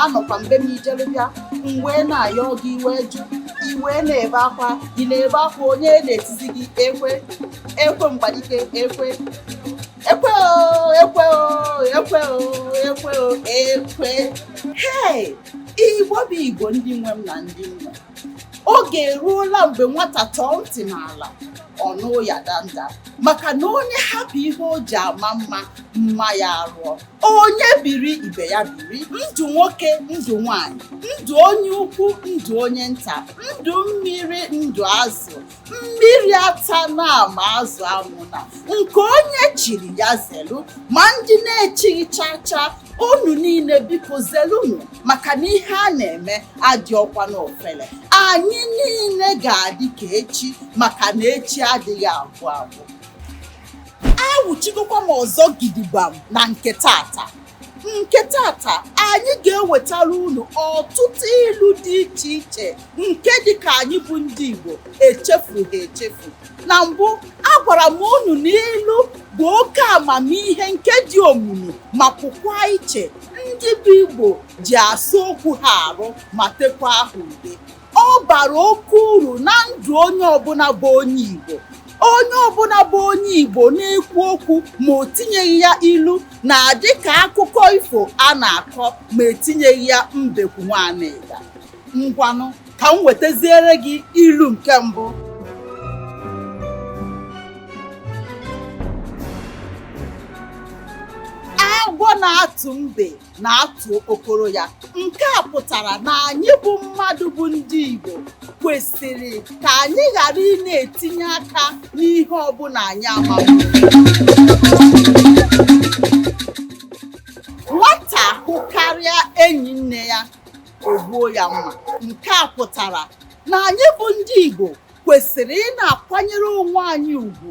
anọkwa mgbe m ijere bịa m wee na-ayọ gị iwe jụ iwe na-ebe akwa ị na-ebe akwa onye na-etizi gị ekwe ekwe mgbadike ekwe ekwe o ekwe o ekwe o ekwe o ekwe hei igbo bụ igbo ndị nwe m na ndị nwe oge eruola mgbe nwata tọọ ntị n'ala ọ nụ ụya danda maka na onye hapụ ihe o ji ama mma mma ya arụọ onye biri ibe ya biri ndụ nwoke ndụ nwanyị ndụ onye ukwu ndụ onye nta ndụ mmiri ndụ azụ mmiri atana ma azụ anwụna nke onye chiri ya zelu ma ndị na-echighị chacha unu niile biko zelunu maka na ihe a na-eme adịrọkwa n'ofele anyị niile ga-adị ka echi maka na echi adịghị agwụ agwụ awụchigokwa m ọzọ gidigbam na nke tata nke tata anyị ga-ewetara unu ọtụtụ ilu dị iche iche nke dị ka anyị bụ ndị Igbo echefughị echefu na mbụ agwara m unu na ilu bụ oke amamihe nke dị omimi ma pụkwa iche ndị bụ Igbo ji asa okwu ha arụ ma tekwa ha ude ọ bara oke uru na ndụ onye ọbụna bụ onye Igbo onye ọbụna bụ onye Igbo na-ekwu okwu ma o tinyeghị ya ilu na-adị ka akụkọ ifo a na-akọ ma etinyeghị ya mbekwu nwa anịga ngwanụ ka m wetaziere gị ilu nke mbụ agwọ na-atụ mbe na-atụ okpokoro ya nke a pụtara na anyị bụ mmadụ bụ ndị Igbo kwesịrị ka anyị ghara ị na-etinye aka n'ihe ọbụna anyị amaghị nwata hụkarịa enyi nne ya o gbuo ya mma nke a pụtara na anyị bụ ndị Igbo kwesịrị ị na-akwanyere onwe anyị ugwu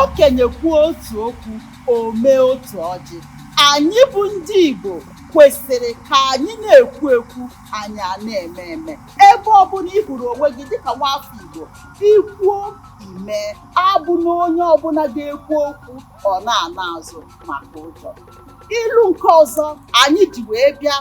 Okenye kwuo otu okwu, o mee otu ọjị. Anyị bụ ndị Igbo kwesịrị ka anyị na-ekwu ekwu anyị ana-eme eme ebe ọbụna ị hụrụ onwe gị dịka nwafọ Igbo i kwuo i mee abụna onye ọbụna ga-ekwu okwu ọ na-ana azụ maka ụjọ ilu nke ọzọ anyị ji wee bịa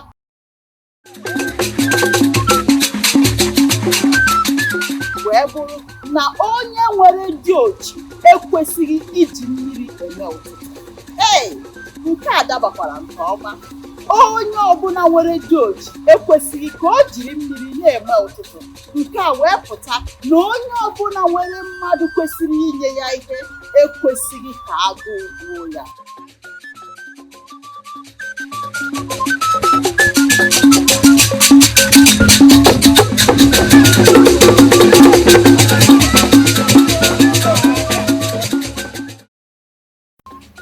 wee bụrụ na onye nwere di ochi ekwesịghị iji mmiri eme ụtụtụ ee nke a dabakwara nke ọma onye ọbụla nwere di ochi ekwesịghị ka o jiri mmiri na-eme ụtụtụ nke a wee pụta na onye ọbụla nwere mmadụ kwesịrị inye ya ihe ekwesịghị ka agụụ gbuo ya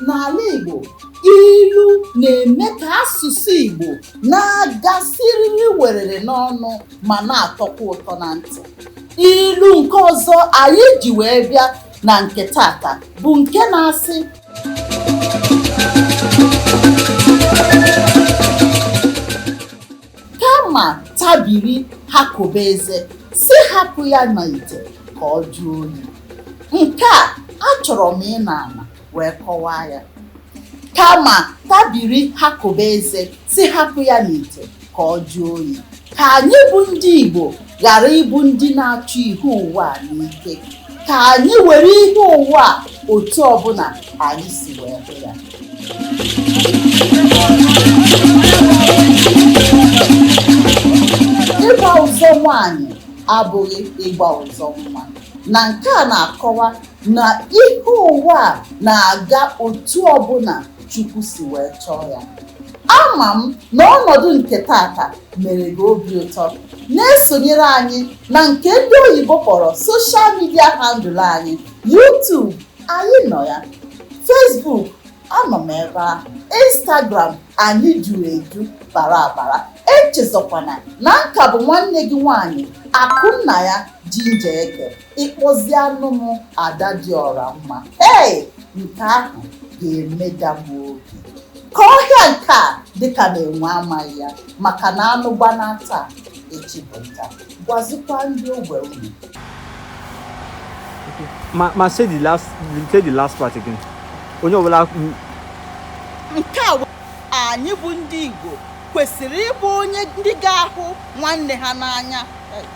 n'ala Igbo ilu na-eme ka asụsụ Igbo na-aga siriri werere n'ọnụ ma na-atọkwa ụtọ na ntị ilu nke ọzọ anyị ji wee bịa na nke taata bụ nke na-asị kama tabiri ha kobe eze sị hapụ ya n'ite ka ọ jụọ oyi nke a achọrọ m ịnọ ala wee kọwaa ya kama tabiri ha kobe eze sị hapụ ya n'ite ka ọ jụọ oyi ka anyị bụ ndị Igbo ghara ịbụ ndị na-achụ ihe ụwa n'ike ka anyị were ihe ụwa otu ọbụla anyị si wee hụ ya ịgba ụzọ nwaanyị abụghị ịgba ụzọ nwa na nke a na-akọwa na ihe ụwa na-aga otu ọbụla Chukwu si wee chọọ ya ama m na ọnọdụ nke taata mere gị obi ụtọ na-esonyere anyị na nke ndị oyibo kpọrọ social media handle anyị YouTube anyị nọ ya Facebook anọ m ebe a Instagram anyị juru eju bara abara echezọkwana na ọ ka bụ nwanne gị nwaanyị Akụnnaya Ginger Eke ị kpọzianụ m ada dị ọra mma ee nke ahụ ga-emeda m obi ka ọhịa nke a dịka na-enwe amaghị ya maka na anụ gbanaa taa echi bụ nta gwazikwa ndị ogbe unu ma ma say the last say the last part again onye ọbụla m- nke a wee- anyị bụ ndị Igbo kwesịrị ịbụ onye ndị ga-ahụ nwanne ha n'anya